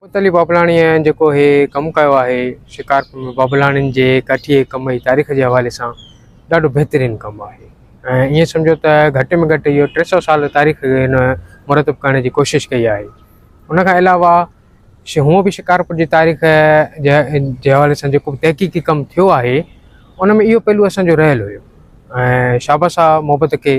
ات علي بابلاڻيء جيڪو هي ڪم ڪيو آهي شڪارپور ۾ بابلاڻين جي ڪاٺيء جي ڪم جي تاريخ جي حوالي سان ڏاڍو بهترين ڪم آهي ۽ ائين سمجهو ته گهٽ ۾ گهٽ اهو ٽي سئو سال تاريخ هن مرتب ڪرڻ جي ڪوشش ڪئي آهي ان کان علاوه شي هونء به شڪارپور جي تاريخ جي جي حوالي سان جيڪو تحقيقي ڪم ٿيو آهي ان ۾ اهو پهلو اسان جو رهيل هيو ۽ شابس آهي محبت کي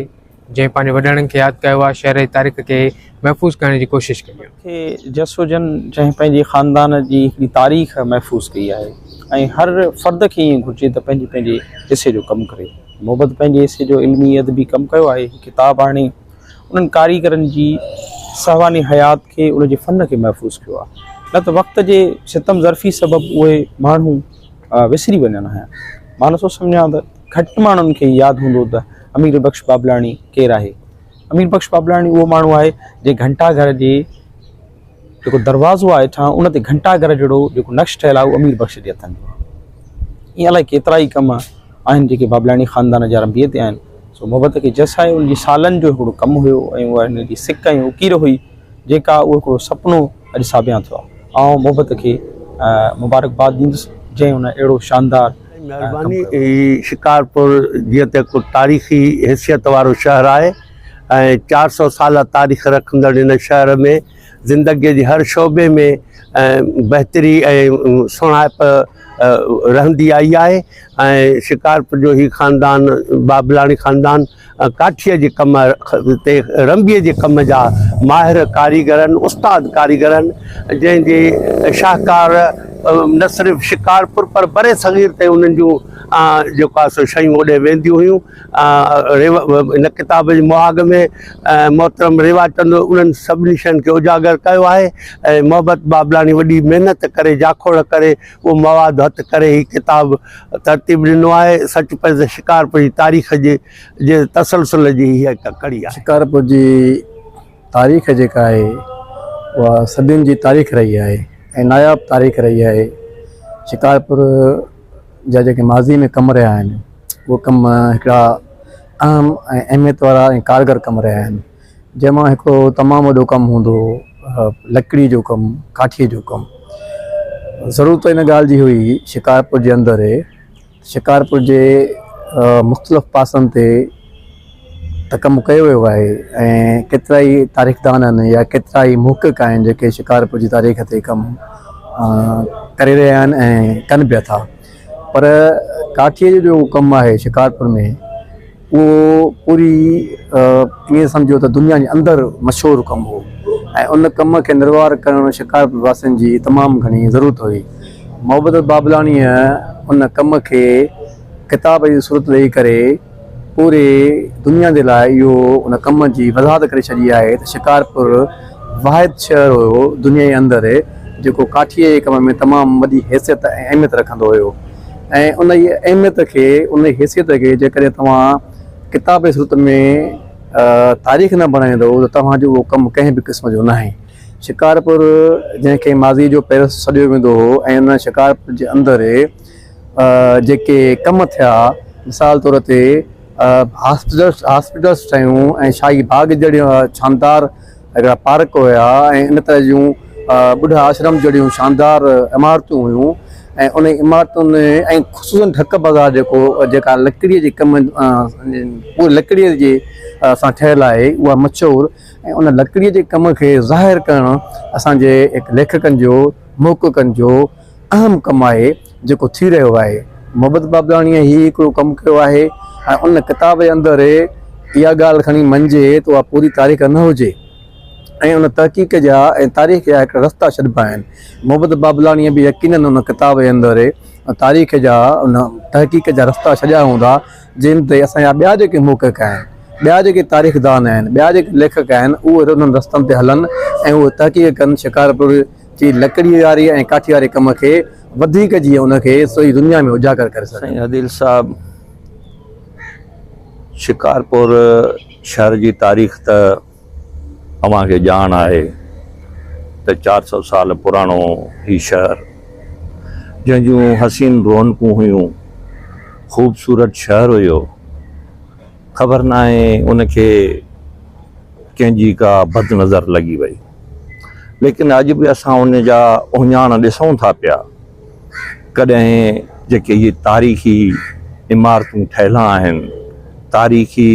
جنهن پنهنجي وڏڙن کي ياد ڪيو آهي، شعر جي تاريخ کي محفوظ ڪرڻ جي ڪوشش ڪئي آهي. کي جس هجن جنهن پنهنجي خاندان جي هڪڙي تاريخ محفوظ ڪئي آهي ۽ هر فرد کي ائين گهرجي ته پنهنجي پنهنجي حصي جو ڪم ڪري. محبت پنهنجي حصي جو علمي ادبي ڪم ڪيو آهي، هي ڪتاب آڻي انهن ڪاريگرن جي سهواني حيات کي ان جي فن کي محفوظ ڪيو آهي نه ته وقت جي ستم ظرفي سبب اهي ماڻهو وسري وڃن هيا. مان نٿو سمجهان ته گهٽ ماڻهن کي ياد هوندو ته. امير بخش ٻاٻلاڻي ڪير آهي؟ امير بخش ٻاٻلاڻي اهو ماڻهو آهي جنهن گهنٽا گهر جي جيڪو دروازو آهي هيٺان ان تي گهنٽا گهر جهڙو جيڪو نقش ٺهيل آهي اهو امير بخش جي هٿن جو آهي ائين الائي ڪيترا ئي ڪم آهن جيڪي ٻاٻلاڻي خاندان جا رنبيء تي آهن سو محبت کي جس آهي ان جي سالن جو هڪڙو ڪم هيو ۽ اها هن جي سڪ ۽ اڪير هئي جيڪا اهو هڪڙو سپنو اڄ ساڀيان ٿيو آئون محبت کي مبارڪباد ڏيندس جنهن ان اهڙو شاندار مهرباني هي شڪارپور جيئن ته هڪ تاريخي حيثيت وارو شهر آهي ۽ چار سؤ سالا تاريخ رکندڙ هن شهر ۾ زندگي جي هر شعبي ۾ بهتري ۽ سهڻائپ رهندي آئي آهي ۽ شڪارپور جو هي خاندان بابلاڻي خاندان ڪاٺيء جي ڪم تي رنبيء جي ڪم جا ماهر ڪاريگرن، استاد ڪاريگرن، جنهن جي شاهڪار نه صرف شڪارپور پر بر صغير تي انهن جون جيڪو آهي سو شيون اوڏي وينديون هيون. هن ڪتاب جي مهاڳ ۾ محترم ريوا چند انهن سڀني شين کي اجاگر ڪيو آهي ۽ محبت بابلاڻي وڏي محنت ڪري جاکوڙ ڪري اهو مواد هٿ ڪري هي ڪتاب ترتيب ڏنو آهي. سچ پچ ته شڪارپور جي تاريخ جي جي تسلسل جي هيء هڪ ڪڙي آهي. شڪارپور جي تاريخ جيڪا آهي اها صدين جي تاريخ رهي آهي ۽ ناياب تاريخ رهي آهي. شڪارپور جا جيڪي ماضي ۾ ڪم رهيا آهن اهي ڪم هڪڙا اهم ۽ اهميت وارا ۽ ڪارگر ڪم رهيا آهن. جنهن مان هڪڙو تمام وڏو ڪم هوندو هو لڪڙي جو ڪم ڪاٺي جو ڪم ضرورت ان ڳالهه جي هئي شڪارپور جي اندر شڪارپور جي مختلف پاسن تي ته ڪم ڪيو ويو آهي ۽ ڪيترا ئي تاريخدان آهن يا ڪيترا ئي محقق آهن جيڪي شڪارپور جي تاريخ تي ڪم ڪري رهيا آهن ۽ ڪن به ٿا پر ڪاٺي جو ڪم آهي شڪارپور ۾ اهو پوري ائين سمجهو ته دنيا جي اندر مشهور ڪم هو ۽ ان ڪم کي نروار ڪرڻ شڪارپور واسين جي تمام گهڻي ضرورت هئي. محبت بابلاڻيء ان ڪم کي ڪتاب جي صورت ڏئي ڪري پوري دنيا جي لاء اهو ان ڪم جي وضاحت ڪري ڇڏي آهي ته شڪارپور واحد شهر هيو دنيا جي اندر جيڪو ڪاٺيء جي ڪم ۾ تمام وڏي حيثيت ۽ اهميت رکندو هيو. ۽ انهيء اهميت کي، انهيء حيثيت کي جيڪڏهن توهان ڪتابي صورت ۾ تاريخ نه بڻائيندؤ ته توهان جو اهو ڪم ڪنهن به قسم جو ناهي. شڪارپور جنهن کي ماضيء جو پئرس سڏيو ويندو هو ۽ ان شڪارپور جي اندر جيڪي ڪم ٿيا مثال طور تي هاسپيٽلس ٺهيون ۽ شاهي باغ جهڙيون شاندار هڪڙا پارڪ هيا ۽ ان طرح جون ٻڍا آشرم جهڙيون شاندار عمارتون هيون ۽ انهن عمارتن ۾ ۽ خصوصن ڍڪ بازار جيڪو جيڪا لڪڙيء جي ڪم پوري لڪڙيء جي سان ٺهيل آهي اها مشهور ۽ ان لڪڙيء جي ڪم کي ظاهر ڪرڻ اسان جي ليکڪن جو محققن جو اهم ڪم آهي جيڪو ٿي رهيو آهي محبت بابلاڻيء هي هڪڙو ڪم ڪيو آهي ۽ ان ڪتاب جي اندر اها ڳالهه کڻي مڃجي ته اها پوري تاريخ نه هجي ۽ ان تحقيق جا ۽ تاريخ جا هڪڙا رستا ڇڏبا آهن محبت بابلاڻيء به يقيناً ان ڪتاب جي اندر تاريخ جا ان تحقيق جا رستا ڇڏيا هوندا جن تي اسان جا ٻيا جيڪي محقق آهن ٻيا جيڪي تاريخدان آهن ٻيا جيڪي ليکڪ آهن اهي انهن رستن تي هلن ۽ اهي تحقيق ڪن شڪارپور جي لڪڙي واري ۽ ڪاٺي واري ڪم کي وڌيڪ جيئن ان کي سڄي دنيا ۾ اجاگر ڪري سگهن. سائين عديل صاحب شڪارپور شهر جي تاريخ ته اوهان کي ڄاڻ آهي ته چار سؤ سال پراڻو هي شهر جنهن جون حسين رونقون هيون خوبصورت شهر هيو خبر ناهي ان کي ڪنهن جي ڪا بد نظر لڳي وئي. ليڪن اڄ به اسان ان جا اهڃاڻ ڏسون ٿا پيا. ڪڏهن جيڪي اهي تاريخي عمارتون ٺهيل آهن، تاريخي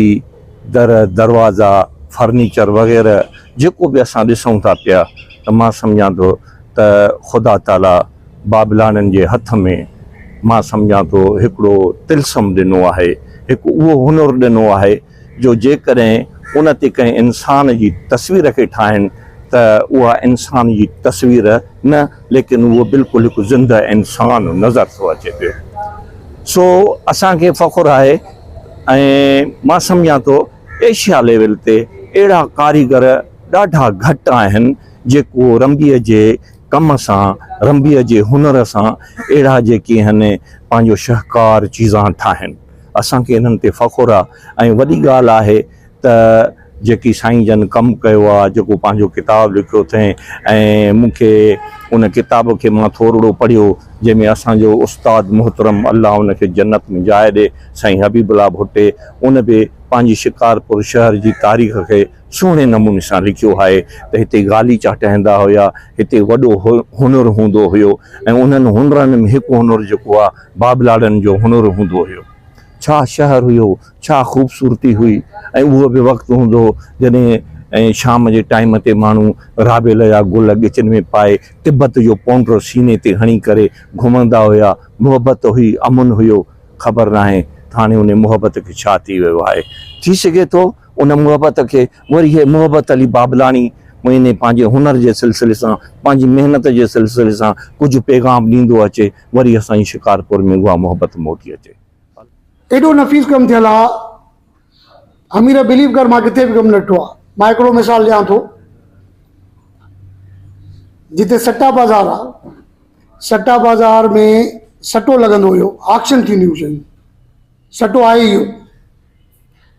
در، دروازا، فرنيچر وغيره جيڪو به اسان ڏسون ٿا پيا ته مان سمجهان ٿو ته خدا تعاليٰ بابلاڻين جي هٿ ۾ مان سمجهان ٿو هڪڙو طلسم ڏنو آهي، هڪ اهو هنر ڏنو آهي. جو جيڪڏهن ان تي ڪنهن انسان جي تصوير کي ٺاهين ته اها انسان جي تصوير نه ليڪن اهو بلڪل هڪ زنده انسان نظر ٿو اچي پيو سو اسان کي فخر آهي ۽ مان سمجهان ٿو ايشيا ليول تي اهڙا ڪاريگر ڏاڍا گهٽ آهن جيڪو رنبيء جي ڪم سان رنبيء جي هنر سان اهڙا جيڪي آهن پنهنجو شهڪار چيزان ٺاهين. اسان کي انهن تي فخر آ ۽ وڏي ڳالهه آهي ته جيڪي سائين جن ڪم ڪيو آ جيڪو پنهنجو ڪتاب لکيو ٿئين ۽ مون کي ان ڪتاب کي مان ٿورڙو پڙهيو جنهن ۾ اسان جو استاد محترم الله ان کي جنت ۾ جاء ڏي سائين حبيب الله ڀٽي ان به پنهنجي شڪارپور شهر جي تاريخ کي سهڻي نموني سان لکيو آهي ته هتي غاليچا ٽهندا هيا، هتي وڏو هنر هوندو هيو ۽ انهن هنرن ۾ هڪ هنر جيڪو آهي بابلاڙن جو هنر هوندو هيو. ڇا شهر هيو، ڇا خوبصورتي هئي ۽ اهو به وقت هوندو هو جڏهن شام جي ٽائيم تي ماڻهو رابيل جا گل ڳچن ۾ پائي تبت جو پونڊر سيني تي هڻي ڪري گهمندا هيا، محبت هئي، امن هيو، خبر ناهي ٿاڻي انهي محبت کي ڇا ٿي ويو آهي، ٿي سگهي ٿو. ان محبت کي وري هيء محبت علي بابلاڻي مهيني پنهنجي هنر جي سلسلي سان، پنهنجي محنت جي سلسلي سان ڪجهه پيغام ڏيندو اچي، وري اسان جي شڪارپور ۾ اها محبت موٽي اچي. ايڏو نفيس ڪم ٿيل آ حميره بليو ڪر مان ڪٿي به ڪم نه ڏٺو آ مان هڪڙو مثال ڏيان ٿو جتي سٽا بازار آ سٽا بازار ۾ سٽو لڳندو هيو آڪشن ٿينديون هيون شيون سٽو آهي اهو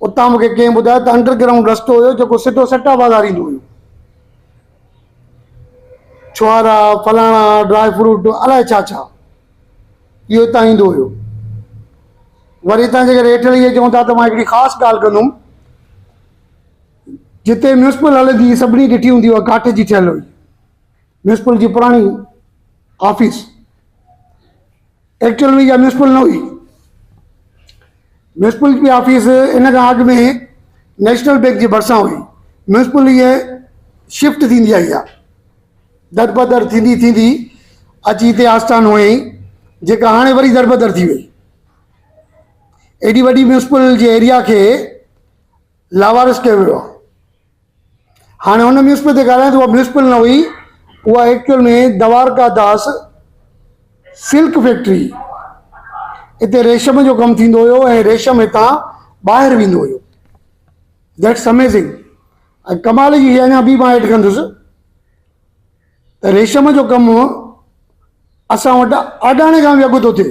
اتان مون کي ڪنهن ٻڌايو ته انڊر گرائونڊ رستو هيو جيڪو سڌو سٽا بازار ايندو هيو. ڇوهارا، فلاڻا، ڊرائي فروٽ الائي ڇا ڇا اهو اتان ايندو هيو. وري اتان جيڪڏهن هيٺ لهي اچون ٿا ته مان هڪڙي خاص ڳالهه ڪندم. جتي ميونسپل هلندي هئي سڀني ڏٺي هوندي اها ڪاٺ جي ٺهيل هئي. ميونسپل جي پراڻي آفيس. ايڪچوئل ۾ اها ميونسپل نه هئي. ميونسپل جي آفيس ان کان اڳ ۾ نيشنل بئنڪ جي ڀرسان هئي. ميونسپل هيء شفٽ ٿيندي آئي آهي. دربدر ٿيندي ٿيندي اچي هتي آستان هنيائين جيڪا هاڻي وري دربدر ٿي وئي. ايڏي وڏي ميونسپل جي ايريا کي لاوارث ڪيو ويو آهي. هاڻي هن ميونسپل تي ڳالهايان ته اها ميونسپل نه هئي، اها actual ۾ Dwarka Das silk factory هئي. اتي ريشم جو ڪم ٿيندو هيو ۽ ريشم هتان ٻاهر ويندو هيو. That's amazing. ۽ ڪمال جي شيء اڃا ٻي مان ايڊ ڪندس ته ريشم جو ڪم اسان وٽ آڏاڻي کان به اڳ ٿو ٿئي.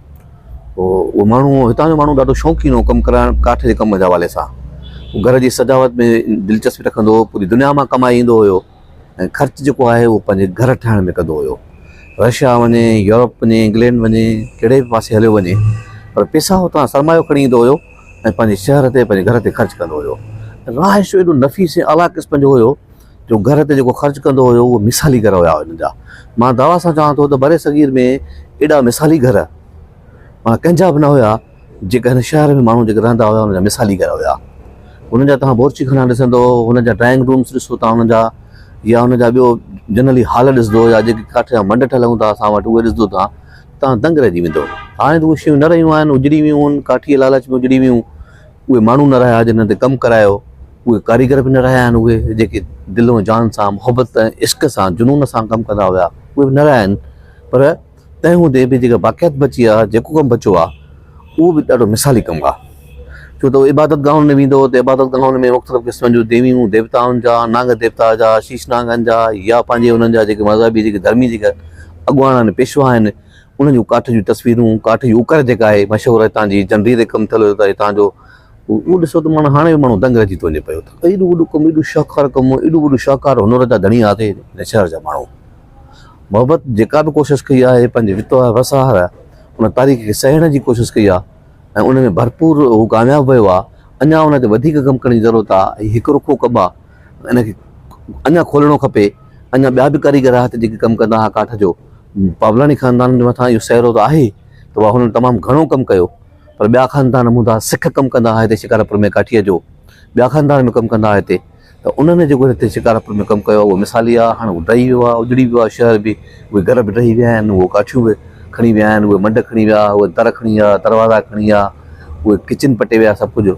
اهو ماڻهو هتان جو ماڻهو ڏاڍو شوقين هو ڪم ڪرائڻ ڪاٺ جي ڪم جي حوالي سان گهر جي سجاوٽ ۾ دلچسپي رکندو هو پوري دنيا مان ڪمائي ايندو هيو ۽ خرچ جيڪو آهي اهو پنهنجي گهر ٺاهڻ ۾ ڪندو هيو رشيا وڃي يورپ وڃي انگلينڊ وڃي ڪهڙي به پاسي هليو وڃي پر پيسا هتان سرمايو کڻي ايندو هيو ۽ پنهنجي شهر تي پنهنجي گهر تي خرچ ڪندو هيو راهه شو ايڏو نفيس ۽ اعليٰ قسم جو هيو جو گهر تي جيڪو خرچ ڪندو هيو اهي مثالي گهر هيا هنن جا مان دعويٰ سان چوان ٿو ته برصغير ۾ ايڏا مثالي گهر معنيٰ ڪنهن جا به نه هيا جيڪا هن شهر ۾ ماڻهو جيڪي رهندا هيا هنن جا مثالي گهر هيا هنن جا توهان بورچي خانا ڏسندو هنن جا ڊرائنگ رومس ڏسو توهان هنن جا يا هنن جا ٻيو جنرلي هال ڏسندو يا جيڪي ڪاٺ جا منڊ ٺهيل هوندا اسان وٽ اهي ڏسندو توهان توهان دنگ رهجي ويندو هاڻي ته اهي شيون نه رهيون آهن اجڙي ويون آهن ڪاٺي جي لالچ ۾ اجڙي ويون اهي ماڻهو نه رهيا جنهن تي ڪم ڪرايو، اهي ڪاريگر به نه رهيا آهن، اهي جيڪي دل ۽ جان سان محبت ۽ عشق سان جنون سان ڪم ڪندا هيا، اهي به نه رهيا آهن، پر تنهن هوندي به جيڪا باقيات بچي آهي، جيڪو ڪم بچو آهي، اهو به ڏاڍو مثالي ڪم آهي، ڇو ته هو عبادت گاهن ۾ ويندو ته عبادت گاهن ۾ مختلف قسمن جون ديويون ديوتائن جا، نانگ ديوتا جا، شيش نانگن جا يا پنهنجي انهن جا جيڪي مذهبي جيڪي ڌرمي جيڪي اڳواڻ آهن، پيشوا آهن، انهن جون ڪاٺ جون تصويرون، ڪاٺ جي اوڪر جيڪا آهي مشهور هتان جي جنڊي تي ڪم ٿيل هيو ته هتان جو اهو ڏسو ته ماڻهو هاڻي به ماڻهو دنگ رهجي ٿو وڃي پيو ته ايڏو وڏو ڪم ايڏو شاهڪار ڪم ايڏو وڏو شاهڪار هنر جا ڌڻي آهي ته هن شهر جا ماڻهو محبت جيڪا به ڪوشش ڪئي آهي پنهنجي وتو آهي وس آهر آهي ان تاريخ کي سهيڙڻ جي ڪوشش ڪئي آهي ۽ ان ۾ ڀرپور هو ڪامياب ويو آهي اڃا ان تي وڌيڪ ڪم ڪرڻ جي ضرورت آهي هڪ رخو ڪم آهي ان کي اڃا کولڻو کپي، اڃا ٻيا به ڪاريگر آهي جيڪي ڪم ڪندا آهي ڪاٺ جو، پاولاڻي خاندان جي مٿان اهو سهرو ته آهي ته اها هنن تمام گهڻو ڪم ڪيو پر ٻيا خاندان هوندا سک ڪم ڪندا آهي هتي شڪارپور ۾ ڪاٺيء جو ٻيا خاندان به ڪم ڪندا آهي هتي ته انهن جي جيڪو هتي شڪارپور ۾ ڪم ڪيو آهي اهو مثالي آهي هاڻي اهو ڊهي ويو آهي اجڙي ويو آهي شهر به اهي گهر به ڊهي ويا آهن اهي ڪاٺيون به کڻي ويا آهن اهي منڊ کڻي ويا اهي در کڻي ويا دروازا کڻي ويا اهي ڪچن پٽي ويا سڀ ڪجهه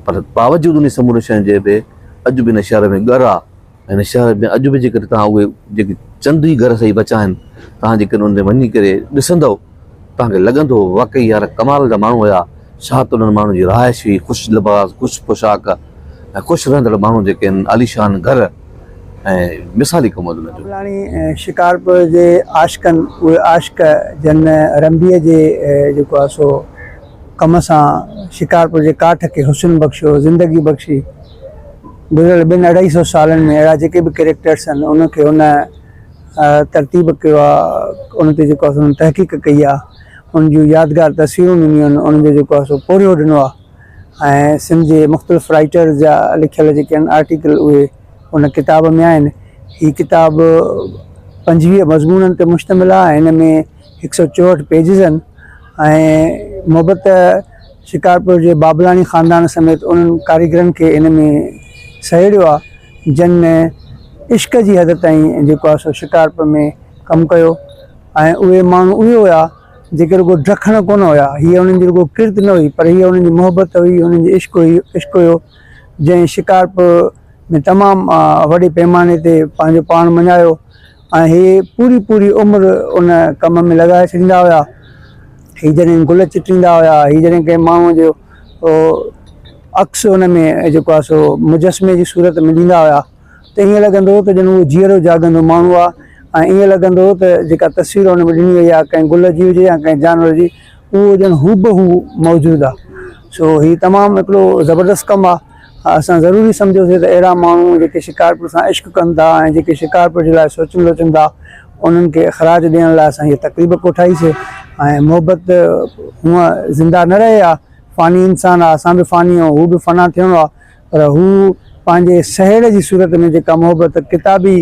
پر باوجود انهي سمورين شين جي به اڄ به هن شهر ۾ ڳر آ ۽ هن شهر ۾ اڄ به جيڪڏهن توهان اهي جيڪي چند ئي گهر سهي بچا آهن توهان جيڪڏهن ان تي وڃي ڪري ڏسندؤ توهان کي لڳندو واقعي يار ڪمال جا ماڻهو هيا ڇا ته انهن ماڻهن جي رهائش هئي خوش لباس خوش پوشاڪ ۽ خوش رهندڙ ماڻهو جيڪي آهن عاليشان گهر ۽ مثالي ڪمود انهن جو. ٻلاڻي ۽ شڪارپور جي عاشقن اهي عاشق جن رنبيء جي جيڪو آ سو. ڪم سان شڪارپور جي ڪاٺ کي حسن بخشيو، زندگي بخشي. گذريل ٻن اڍائي سئو سالن ۾ اهڙا جيڪي به ڪريڪٽرس آهن، ان کي هن ترتيب ڪيو آهي، ان تي جيڪو آهي سو تحقيق ڪئي آهي، ان جون يادگار تصويرون ڏنيون آهن، انهن جو جيڪو آهي سو پورهيو ڏنو آهي ۽ سنڌ جي مختلف رائيٽرز جا لکيل جيڪي آهن آرٽيڪل اهي ان ڪتاب ۾ آهن. هي ڪتاب پنجويهه مضمونن تي مشتمل آهي ۽ هن ۾ هڪ سئو چوهٺ پيجز آهن ۽ محبت شڪارپور جي بابلاڻي خاندان سميت انهن ڪاريگرن کي ان ۾ سهيڙيو آهي جن عشق جي حد تائين جيڪو آهي سو شڪارپور ۾ ڪم ڪيو ۽ اهي ماڻهو اهي هيا جيڪي رڳو ڊکڻ ڪونه هيا هيء انهن جي رڳو ڪرت نه هئي پر هيء انهن جي محبت هئي انهن جي عشق هئي عشق هيو جنهن شڪارپور ۾ تمام وڏي پيماني تي پنهنجو پاڻ مڃايو ۽ هي پوري پوري عمر ان ڪم ۾ لڳائي ڇڏيندا هيا. هي جڏهن گل چٽيندا هيا، هي جڏهن ڪنهن ماڻهوء جو عڪس ان ۾ جيڪو آهي سو مجسمي جي صورت ۾ ڏيندا هيا ته ائين لڳندو هو ته ڄڻ اهو جيئرو جاڳندو ماڻهو آهي ۽ ائين لڳندو هو ته جيڪا تصوير ان ۾ ڏني وئي آهي ڪنهن گل جي هجي يا ڪنهن جانور جي اهو ڄڻ هوبهو موجود آهي. سو هي تمام هڪڙو زبردست ڪم آهي. ها اسان ضروري سمجهيوسين ته اهڙا ماڻهو جيڪي شڪارپور سان عشق ڪن ٿا ۽ جيڪي شڪارپور جي لاء سوچن سوچن ٿا انهن کي اخراج ڏيڻ لاء اسان هيء تقريب ڪوٺائيسي ۽ محبت هونئن زنده نه رهي ها فاني انسان آ اسان به فاني آهيون هو به فنا ٿيڻو آ پر هو پنهنجي سهيڙ جي صورت ۾ جيڪا محبت ڪتابي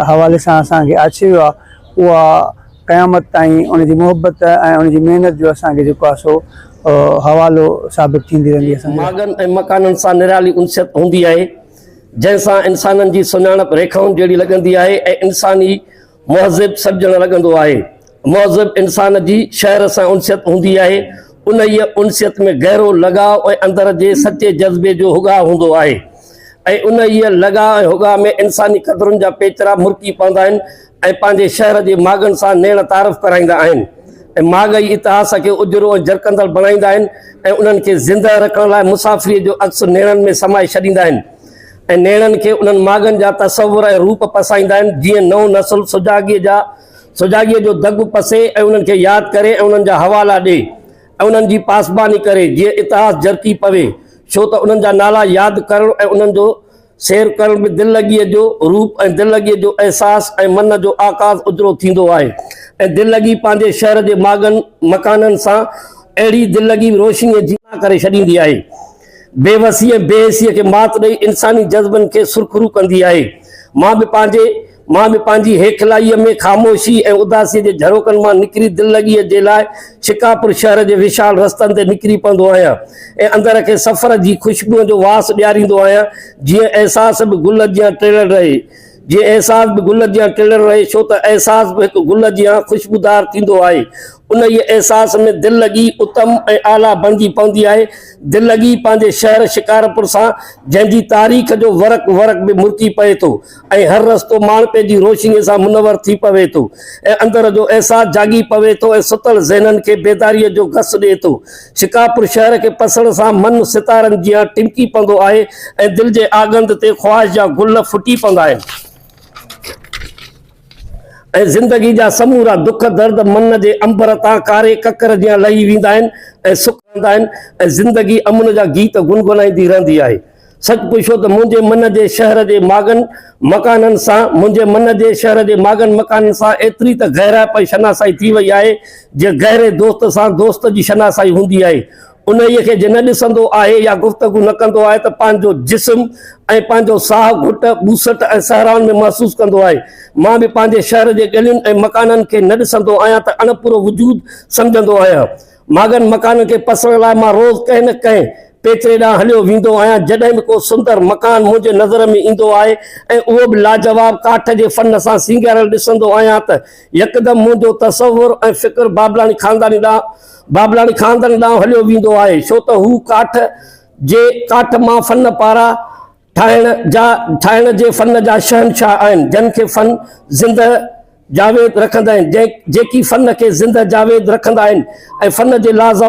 حوالي سان اسان کي آڇي ويو آهي اها قيامت تائين ان جي محبت ۽ ان جي محنت جو اسان کي جيڪو آهي سو حوالو ثابت ٿيندي رهندي اسان جي لاء. ماڳن ۽ مڪانن سان نرالي انسيت هوندي آهي جنهن سان انسانن جي سڃاڻپ ريکائن جهڙي لڳندي آهي ۽ انسان ئي مهذب سڏجڻ لڳندو آهي مهذب انسان جي شهر سان انسيت هوندي آهي، انهيء انسيت ۾ گهرو لڳاء ۽ اندر جي سچي جذبي جو هڳاء هوندو آهي ۽ انهيء لڳاء ۽ هڳاء ۾ انساني قدرن جا پيچرا مرڪي پوندا آهن ۽ پنهنجي شهر جي ماڳن سان نيڻ تعارف ڪرائيندا آهن ۽ ماڳ ئي اتهاس کي اجرو ۽ جرڪندڙ بڻائيندا آهن ۽ انهن کي زندهه رکڻ لاء مسافريء جو عڪس نيڻن ۾ سمائي ڇڏيندا آهن ۽ نيڻن کي انهن ماڳن جا تصور ۽ روپ پسائيندا آهن جيئن نئون نسل سجاڳيء جا سجاڳيء جو دڳ پسي ۽ انهن کي ياد ڪري ۽ انهن جا حوالا ڏي ۽ انهن جي پاسباني ڪري جيئن اتهاس جرڪي پوي، ڇو ته انهن جا نالا ياد ڪرڻ ۽ انهن جو سير ڪرڻ به دل لڳيء جو روپ ۽ دل لڳيء جو احساس ۽ من جو آڪاس اجرو ٿيندو آهي ۽ دل لڳي پنهنجي شهر جي ماڳن مڪانن سان اهڙي دل لڳي روشنيء جي ڪري ڇڏيندي آهي. بي وسي ۽ بي حيثيء کي مات ڏئي انساني جذبن کي سرخرو ڪندي آهي. مان به پنهنجي مان به پنهنجي هيکلائيء ۾ خاموشيء ۽ اداسيء جي جهروڪن مان نڪري دل لڳيء جي لاء شڪاپور شهر جي وشال رستن تي نڪري پوندو آهيان ۽ اندر کي سفر جي خوشبوئن جو واس ڏياريندو آهيان جيئن احساس به گل جيان ٽڙيل رهي جيئن احساس به گل جيان ٽڙيل رهي ڇو ته احساس به هڪ گل جيان خوشبودار ٿيندو آهي انهيء احساس ۾ دل لڳي اتم ۽ اعليٰ بڻجي پوندي آهي. دل لڳي پنهنجي شهر شڪارپور سان، جنهن جي تاريخ جو ورق ورق به مرڪي پئي ٿو ۽ هر رستو ماڻهپي جي روشنيء سان منور ٿي پوي ٿو ۽ اندر جو احساس جاڳي پوي ٿو ۽ ستل ذهنن کي بيداريء جو گس ڏئي ٿو. شڪارپور شهر کي پسڻ سان من ستارن جيان ٽمڪي پوندو آهي ۽ دل جي آڳنڌ تي خواهش جا گل ڦٽي پوندا آهن. ۽ زندگي جا سمورا دک درد من جي عنبر تان ڪاري ڪڪر جيان لهي ويندا آهن ۽ سڪ رهندا آهن ۽ زندگي امن جا گيت گنگنائيندي رهندي آهي. سچ پڇو ته منهنجي من جي شهر جي ماڳن مڪانن سان منهنجي من جي شهر جي ماڳن مڪانن سان ايتري ته گهرائپ ۽ شناسائي ٿي وئي آهي جيئن گهري دوست سان دوست جي شناسائي هوندي آهي انهيء کي جي نه ڏسندو آهي يا گفتگو نه ڪندو آهي ته پنهنجو جسم ۽ پنهنجو ساهه گهٽ، ٻوسٽ ۽ سهرائن ۾ محسوس ڪندو آهي. مان به پنهنجي شهر جي ڳلين ۽ مڪانن کي نه ڏسندو آهيان ته اڻپورو وجود سمجهندو آهيان. ماڳن مڪانن کي پسڻ لاء مان روز ڪنهن نه ڪنهن پيچري ڏانهن هليو ويندو آهيان. جڏهن به ڪو سندر مڪان منهنجي نظر ۾ ايندو آهي ۽ اهو به لاجواب ڪاٺ جي فن سان سينگاريل ڏسندو آهيان ته يڪدم منهنجو تصور ۽ فڪر بابلاڻي خانداني ڏانهن بابلاڻي خاندان ڏانهن هليو ويندو آهي، ڇو ته هو ڪاٺ جي ڪاٺ مان فن پارا ٺاهڻ جا ٺاهڻ جي فن جا شهنشاهه آهن، جن کي فن زنده جاويد رکندا آهن، جيڪي فن کي زنده جاويد رکندا آهن ۽ فن جي لاز.